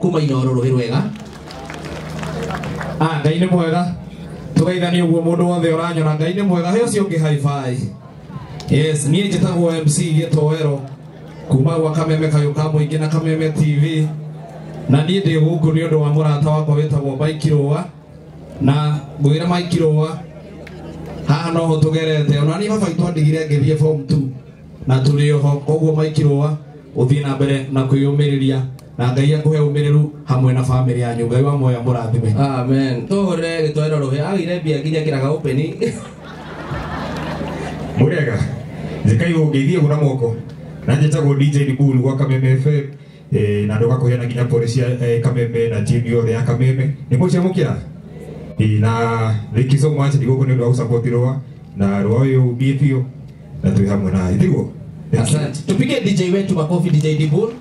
kuma inoro rũĩ rwega Ah, ngai nĩ mwega tũgeithanie ũguo mũndũ wothe ũranyona ngai nĩ mwega he ũcio ũngĩ haibai yes niĩ njĩtagwo mc gĩtoero kuma gwa kameme kayũ ka mũingĩ na kameme tv na niĩ ndĩ gũkũ nĩ ũndũ wa mũrata wakwa wĩtagwo mike rũa na ngwĩre mike rũa haha no ho tũgerete ona niĩ baba itũ andigire ngĩthiĩ form 2 na tũrĩ oho koguo mike rũa ũthiĩ na mbere na kwĩyũmĩrĩria na ngai akũhe ũmĩrĩru hamwe na bamĩrĩ yanyu ngai wa moya mũrathime amen tũhũrĩre gĩtoero rũhĩ agĩire mbia nginya kĩraga ũpeni murega njikai ungeithie gura moko na njĩtagwo dj ndikulu gwa kameme fm eh, na ndũgakũheana nginya pore cia eh, kameme na timu yothe ya kameme nĩ mũciamũkĩra Eh, na thank you so much ndigũkũ nĩ ũndũ wa gũsapoti rũa na rũa ũyũ ũthiĩ biũ na twĩ hamwe na ithiguo asante tupige dj wetu makofi dj dibul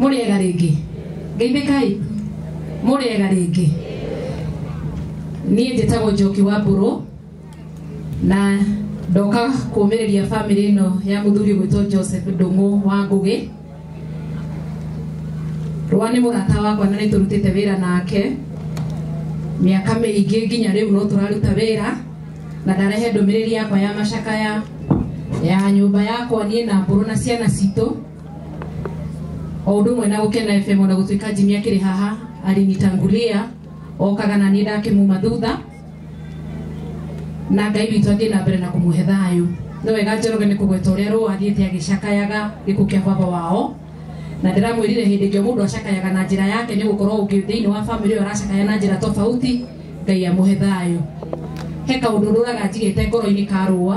mũrĩega rĩngĩ ngeithĩkai mũrĩega rĩngĩ niĩ njĩtagwo njoki wa mbũrũ na ndoka kũmĩrĩria bamĩrĩ ĩno ya mũthuri gwĩtwo joseph ndũng'ũ wa ngũgĩ rwa nĩ mũrata wakwa na nĩ tũrutĩte wĩra nake mĩaka mĩingĩ nginya rĩu no tũraruta wĩra na ndarehe ndũmĩrĩri yakwa ya macakaya ya nyũmba yakwa niĩ na mbũrũ na ciana citũ o ũndũ ũmwe na gũkena fm ona gũtuĩka jimi akĩrĩ haha arinitangulia okaga na niĩ ndakĩmuma thutha na ngai witũ athiĩ na mbere na kũmũhe thayũ nĩ wega njoroge nĩ kũgweta ũrĩa rũa athiĩte agĩcakayaga gĩkuũ kĩa baba wao na ndĩramwĩrire hĩndĩ ĩngĩ mũndũ acakayaga na njĩra yake nĩ gũkorwo ũngĩ thĩinĩ wa bamĩrĩ ĩyo aracakaya na njĩra tofauti ngai amũhe thayũ he kaũndũ rũraga njigĩte ngoro-inĩ ka rũa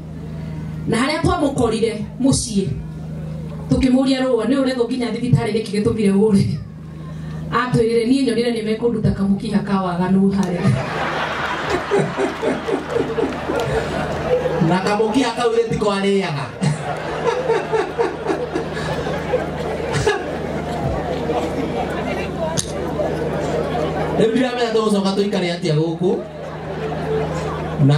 na harĩa twamũkorire mũciĩ tũkĩmũria rũa nĩ ũrethwo nginya thibitarĩ nĩkĩ gĩtũmire ũre atwĩrire niĩ nyonire nĩ mekũnduta kamũkiha ka waganu harĩa na kamũkia kau rĩ tiko arĩaga rĩu ndiramenya tũgũcoka tũikare atĩa gũkũ na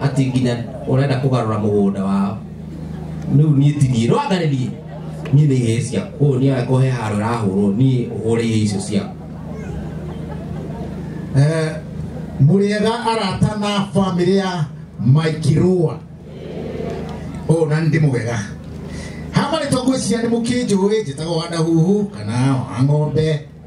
ati nginya urenda kugarura mugunda wao riu nie tinie rwangaririe nie ni ihe cia koguo nie angĩkorwo he handå rahå nie hå ihe icio cia Eh, mũrĩega arata na bamĩrĩ ya maikirũa o na nĩ ndĩmũgega hamarĩtwa ngwĩciria nĩ mũkĩnjũĩ njĩtagwo wanda huhu kana wa ng'ombe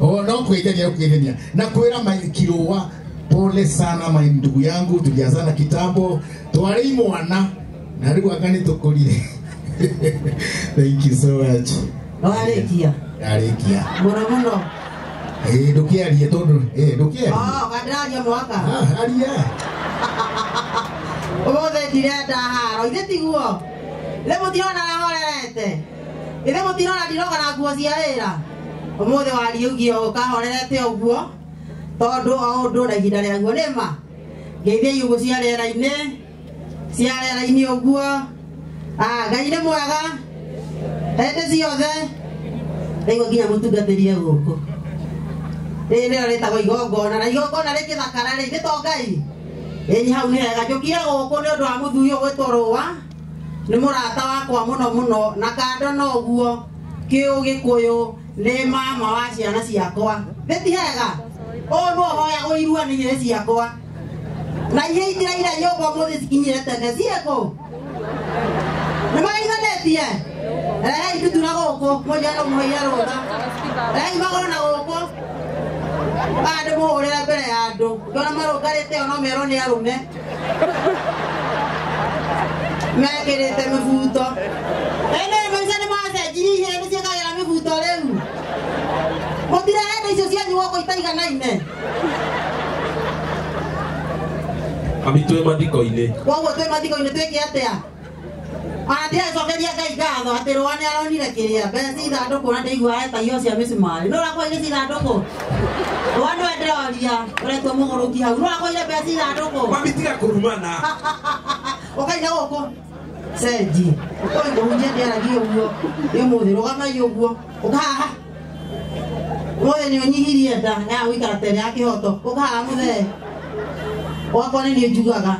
Oh, no kuigania kuigania na kwira mai kiroa pole sana mai ndugu yangu tuliazana kitambo twari mwana na riu agani tukurire thank you so much Warĩkia. arikia Mũno mũno. eh ndukiarie tondu eh ndukiarie Oh, gandĩraria mwaka. ah aria Ũmũthĩ ndirenda haro. Ithe tiguo. Rĩu mũtirona arahorerete. ithe mutirona ndiroga na nguo cia wira umuthi wariugie o kahorerete uguo tondu o undu na ihinda riaguo ni ma ngeithia iugu cia riera-ini cia riera-ini uguo Ah, ngai ni mwega hindi ciothe riu nginya mutungatĩrie gũkũ rĩrĩ nĩrĩo rĩtagwo igongona na igongona rĩ gĩthakara rĩ nĩ to ngai ĩĩ hau nĩ hega njũkire gũkũ nĩ ũndũ wa mũthuri ũgwĩtwo rũwa nĩ mũrata wakwa mũno mũno na kando na ũguo kĩũgĩkũyũ nĩ mama wa ciana ciakwa nĩ ti hega ũũ no hoyagwo irua nĩ irĩ ciakwa na ihe itiraira nyũmba mũthĩ cikinyire tene ciĩkũ nĩ magaiganĩtie rehei ndutu na gũkũ mũnjano mũhĩire rũtha rehei magoro na gũkũ andũ mũhũrĩra mbere ya andũ ngĩona marũngarĩte o no merwo nĩ arũme mekĩrĩte mĩbuto ene maica nĩ macenjirie ihĩĩ nĩ ciĩkagĩra mĩbuto rĩu mũtirehete icio cianyu goko itaiganaine amitwe mathiko-inĩ koguo twĩ mathiko-inĩ twĩke atĩa Ati acokeria Ngai ngatho atĩ rũa nĩ aronire kĩrĩa mbeca cia ithandũkũ na ndĩiguaga ta iho cia mĩcumarĩ nũra kwaire cia ithandũkũ rũa nĩwe ndĩroria ũretua mũgũrũki hau nũra kwaire mbeca cia ithandũkũ Mami tiga kũrumana. ũkaire gũkũ cenji ũkoĩ kũhunjia ndĩaragi ũguo nĩ mũthĩ rũgamai ũguo ũkahaha mũthĩ nĩ ũnyihirie nda ya gũikara tene ya kĩhoto ũkahaha mũthee gwakwa nĩ niĩ njugaga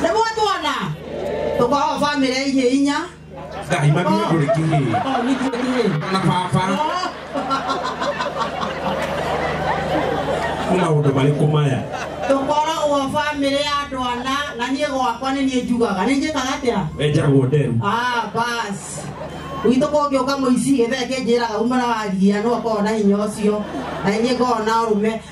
nĩguo tuona tũkoragwo bamĩrĩ ya ihiĩ inya Ngai makinya kũrĩ kihi. Oh, nĩ kĩĩ kĩĩ? Na baba Oh, nĩ maũndũ marĩkũ maya? tũkoragwo bamĩrĩ ya andũ ana na niĩ gwakwa nĩ niĩ njugaga nĩ njĩkaga atĩa Wenjagwo nderu. Ah, bas gwitũ kũngĩũka mũici gĩthee kĩnjĩraga umana waria nĩ wakorwo na hinya ũcio na inyĩ ngorwo na ũrũme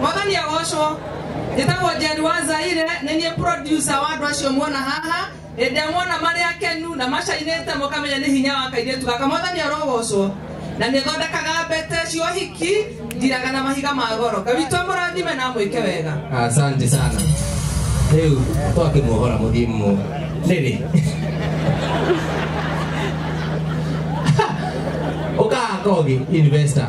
mwathani agocwo njĩtagwo njeri wa zaire nĩ niĩ producer wa andũ acio muona haha ĩndĩa muona marĩ akenu na macainĩte mũkamenya nĩ hinya wa kairĩtu gaka mwathani arogocwo na nĩ thondekaga mbete cia ũhiki ndiraga na mahiga ma goro ngawitũ amũrathime na amwĩke wega asante sana rĩu twakimuohora mũthimu nĩrĩ ũkaga kogi investor